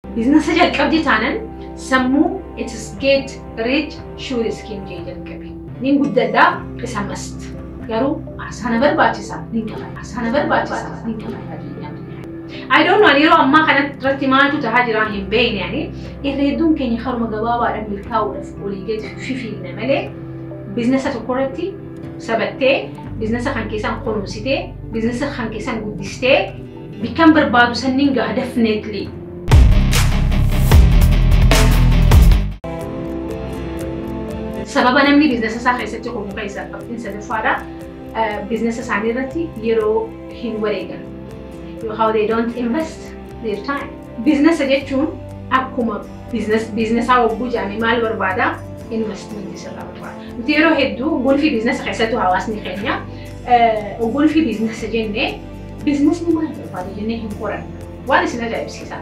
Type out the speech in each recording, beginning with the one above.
Biiznasa jalqabde taanan sammuu it is get rich sure is king jee jalqabe. Nin guddadhaa isa mast. Garuu aarsaa na barbaachisa nin qaba. Aarsaa na barbaachisa nin qaba. I don't know yeroo ammaa kanatti irratti maaltu tahaa jiraa hin beekne ani irra hedduun keenya haruma gabaabaadhaan milkaa'uudhaaf olii gadi fifiigna malee biiznasa tokko irratti sabattee biiznasa kan keessaan kunuunsitee biiznasa kan keessaan guddistee Bikkan barbaadu sanniin gaha definitely. Sababa namni biiznesa isaa keessatti qomu keessaa qabxiin sadaffaadha. Biiznesa isaanii irratti yeroo hin wareegan. How they don't invest their time. Biiznesa jechuun akkuma biiznesaa hogguu jedhame maal barbaada? Investmentii sirraa barbaada. Nuti yeroo hedduu gulfii biiznesa keessattuu hawaasni keenya gulfii biiznesa jennee Biiznasni maal barbaada jennee hin qorannu. Waan isin ajaa'ibsiisa.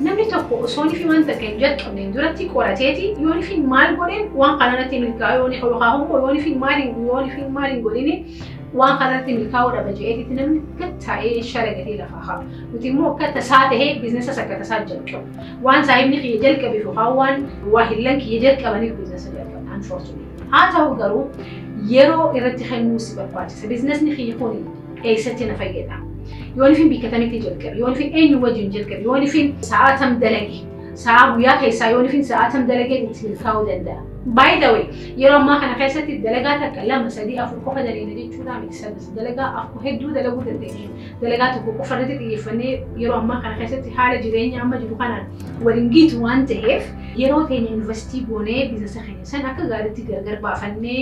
Namni tokko osoo nifi waan takka hin jalqabneen duratti qorateeti yoo nifiin maal godheen waan kanarratti milkaa'u yoo nifa yookaan immoo yoo nifiin maal hin yoo nifiin maal hin godhini waan kanarratti milkaa'uu dhaba jedheetitti namni gad taa'ee shalagatee lafaa haa. Nuti immoo akka tasaa ta'ee biiznasas akka tasaa jalqabu. Waan saahibni kiyya jalqabeef yookaan waan waahillan kiyya jalqabaniif biiznasa jalqabna. Unfortunately. Haa ta'u garuu yeroo irratti kennuu si barbaachisa. Biiznasni kiyya kuni eessatti na fayyada yoonifin bikka tamitti jalqabe yoonifin eenyu wajjin jalqabe yoonifin sa'aa tam dalage sa'aa guyyaa keessaa yoonifin sa'aa tam dalagee itti milkaa'uu danda'a. By the way, yeroo ammaa kana keessatti dalagaa takka lama sadii afur qofa daleena jechuudha miti sadis dalagaa afur hedduu dalaguu dandeenya. Dalagaa tokko qofa irratti xiyyeeffannee yeroo ammaa kana keessatti haala jireenya amma jiru kanaan waliin gitu waan ta'eef yeroo teenya yuunivarsiitii goonee biizinasa keenya san akka gaariitti gargar baafannee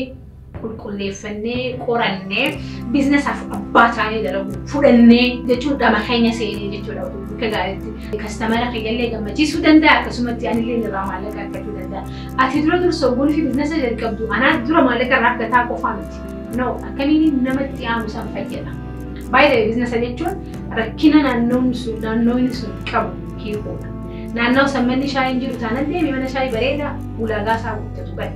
qulqulleeffannee qorannee biizinasaaf abbaa taanee dalagu fudhannee jechuun dhama keenya seenee jechuudha akka gaariitti kastamara keenyallee gammachiisuu danda'a akkasumatti anillee irraa maallaqa argachuu danda'a ati dura dursa ogummaa fi biizinasa jalqabdu anaa dura maallaqa irraa argataa qofaa miti no akkamiin namatti aanuu san fayyada baay'ee biizinasa jechuun rakkina naannoon sun naannoon sun qabu hiikuudha naannoo san manni shaayiin jiru taanan deemi mana shaayii bareedaa ulaagaa isaa guuttatu bari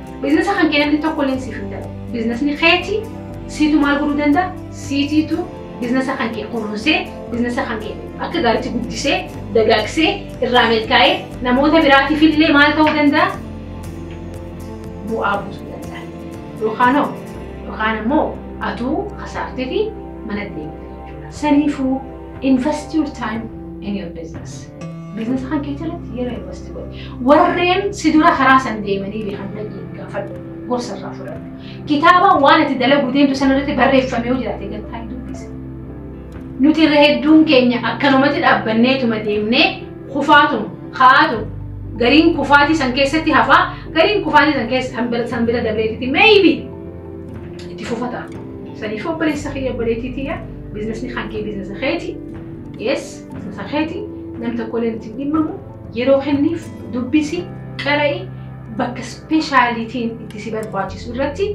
Biznesa kan kee namni tokko illee siif hin ta'u. Biznesni keeti siitu maal godhuu danda'a? Siitiitu biznesa kan kee kunuunsee biznesa kan kee akka gaariitti guddisee dagaagsee irraa milkaa'ee namoota biraatiif illee maal ta'uu danda'a? Bu'aa buusuu danda'a. Yookaan hoo yookaan immoo atuu kasaartee fi mana deemta jechuudha. Saniifuu Invest your time in your business. Business kan kee jalatti yeroo invest godhi. Warreen si dura karaa san deemanii beekan dhaqii gaafadhu. Gorsa irraa fudhadhu. Kitaaba waan itti dalaguu deemtu sana irratti barreeffamee yoo jiraate gattaa hin dubbisa. Nuti irra hedduun keenya akkanumatti dhaabbanneetuma deemnee kufaatuma kaa'aatuma. Gariin kufaatii san keessatti hafaa gariin kufaatii san keessa san bira dabreetitti maybe itti fufataa. Saniif obboleessa kiyya obboleettii tiyya biiznasni kan kee biiznasa keeti. Yes, biiznasa keeti. Nam tokkollee nuti hin dhimmamu. Yeroo kenniif dubbisi, qara'i bakka ispeeshaalitiin itti si barbaachisu irratti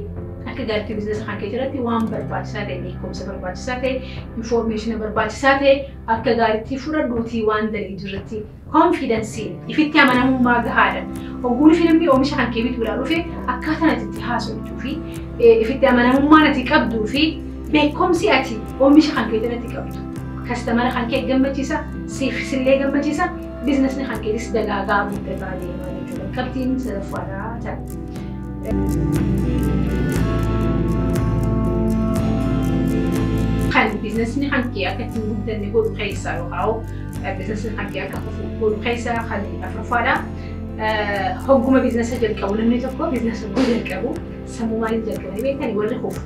akka gaariitti biiznasa kan kee irratti waan barbaachisaa ta'e beekumsa barbaachisaa ta'e infoormeeshina barbaachisaa ta'e akka gaariitti fudhadhuutii waan daliidu irratti Konfiidansiin, ifitti amanamummaa gahaadhan hogguun fiilmii oomisha kan kee bituudhaa dhufe akkaataan ati itti haasoftuu fi ifitti amanamummaan ati qabduu fi beekomsi ati oomisha kan kee jalatti qabdu kastamara kan kee gammachiisa siif sillee gammachiisa biizinasni kan keetis dagaagaa guddataa deema jechuudha. Qabxiin sadaffaadhaa ta'a. Kan biizinasni kan kee akka ittiin guddanne godhu keessaa yookaan Biiznasiin hanqii akka fufu godhu keessaa kan afuraffaadha. Hogguma biiznasa jalqabu namni tokko biiznasa yoo jalqabu sammuu maaliin jalqabanii beekani warri kufu.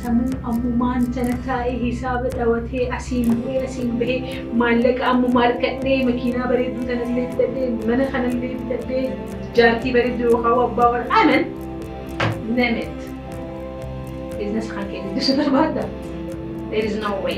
Sammuu ammumaan jala taa'ee hisaaba dhawatee asiin bu'ee asiin bahee maallaqa ammumaa argadhee makiinaa bareedduu tanallee bitadhee mana kanallee bitadhee jaartii bareedduu yookaan abbaa warra anan name it. Biiznasa kan keenya guddisuu barbaadda? There is no way.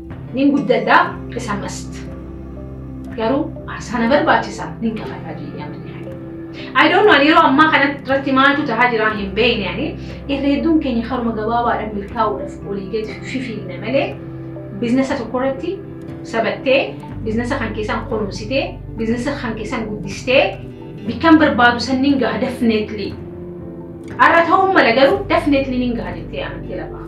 Nin guddadhaa isa mast. Garuu aarsaa na barbaachisa nin kafalaa jedhee amni I don't know yeroo ammaa kana irratti maaltu tahaa jira hin beekne ani irreedduun keenya haruma gabaabaadhaan milkaa'uudhaaf olii gadi fifiinna malee biiznesa tokko irratti sabattee biiznesa kan keessaan kunuunsitee biiznesa kan keessaan guddistee bikkan barbaadu sanniin gaha definitely. Har'a ta'uu mala garuu definitely nin gaha jettee amantee lafa.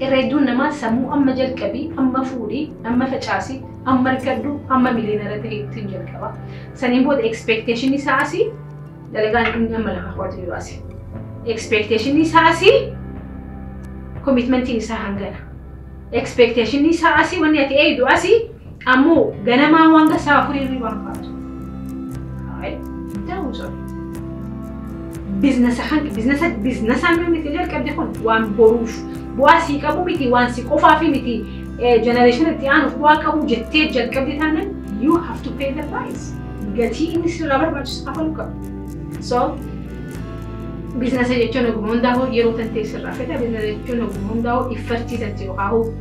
Irra hedduun namaa sammuu amma jalqabi, amma fuudhi, amma facaasi, amma argadhu, amma miliyoonara ta'e ittiin jalqaba. Saniin booda expectation isaa asii dalagaan inni amma lafa kaawwatu jiru asii. Expectation isaa asii commitmentiin isaa hangana. Expectation isaa asii wanni ati eegdu asii Ammoo ganamaa waan gasa afurii hirribaan kaatu. Haay, daawuu sobe. Biznasa kan biznasa biznasaan kan miti jalqabde kun waan boruuf bu'aa sii qabu miti waan si qofaaf miti jenereeshinii itti aanuuf bu'aa qabu jettee jalqabde taanaan you have to pay the price. Gatii inni sirraa barbaachisu kafaluu qabu. So biznasa jechuun ogummaa hundaa'uu yeroo tantee sirraa fedha biznasa jechuun ogummaa hundaa'uu iffartii tantee yookaan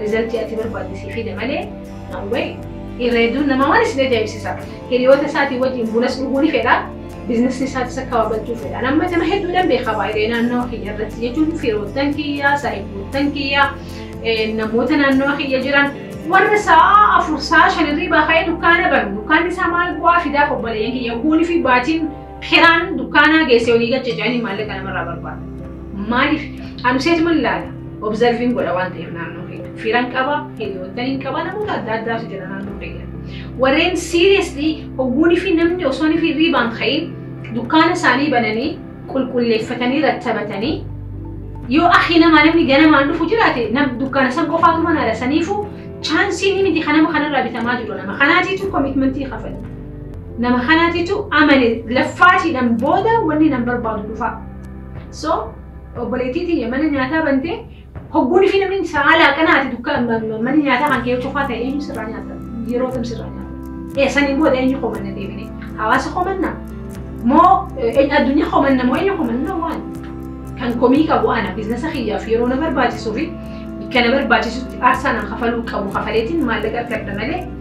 Rizaltii ati barbaadde sii fida malee no way. Irra hedduun namaa waan isin ajaa'ibsiisa. Hiriyoota isaatii wajjin bunas dhuguu ni fedha. Biiznasii isaatis akka babal'achuu fedha. Amma nama hedduudhaan beekaa baay'ee naannoo kiyya irratti jechuun firoottan kiyyaa, saahiboottan kiyyaa, namoota naannoo kiyya jiran warra sa'a afur sa'a shan irrii baaka'ee dukkaana banu dukkaanni isaa maal bu'aa fidaaf obboleeyyan kiyya guunii fi baatiin Hiraan dukkaanaa geessee olii gad cicanii maallaqa namarraa barbaada. Maaliif? Anu seetuman laala. Obzarviin godha waan ta'eef naannoo keenya. Firan qaba, hiriyoottan hin qaba, namoota adda addaatu jira naannoo keenya. Warreen siiriyeesli hogguunii fi namni osoo fi riibaan ka'in dukkaana isaanii bananii qulqulleeffatanii rattabatanii yoo akhi namaa namni ganamaan dhufu jiraate nam dukkaana san qofaatu manaadha saniifuu chaansiin miti kanama kanarraa bitamaa jiru nama kanaatiitu komitmentii kafali. Nama kanatitu amane laffaatiidhan booda wanni nan barbaadu dhufaa. So obboleettii tiyya mana nyaataa bantee hogguun fi namni saalaa qanaati dukka mana nyaataa kan kee cufaa ta'e eenyu sirraa nyaata yeroo kam sirraa nyaata. Ee saniin booda eenyu komanna deebine hawaasa komanna moo addunyaa komanna moo eenyu komanna waan kan komii qabu ana biiznasa kiyyaaf yeroo na barbaachisuu fi kana barbaachisutti aarsaa na kafaluu qabu kafaleetiin maallaqa argadha malee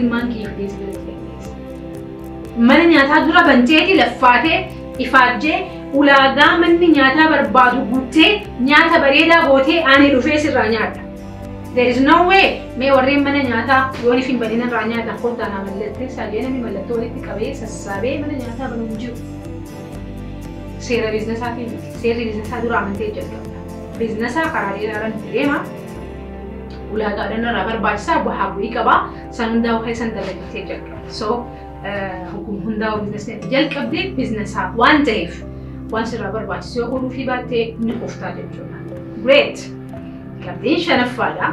Ilmaan kiyya keessa jira keessa. Mana nyaataa dura banteeti laffaatee ifaajjee ulaagaa manni nyaataa barbaadu guuttee nyaata bareedaa gootee ani dhufee sirraa nyaadha. There is no way mee warreen mana nyaataa yoon ifin banin irraa nyaatan kottaa naa mallattee saalee namni mallattoo walitti qabee sassaabee mana nyaataa banu hin jiru. Seera biiznasaatiin miti. Seerri biizinasaa dura amantee jalqabda. Biizinasaa karaa dheeraaraan deema. ulaagaadhaan irraa barbaachisaa bu'aa bu'ii qaba. San hundaa'u keessan dalagitee jalqaba. So hukum hundaa'u biiznasneetti jalqabde biiznesaa waan ta'eef waan sirraa barbaachisu yoo godhuu fi baatte ni kuftaa jechuudha. Great! Qabxiin shanaffaadha.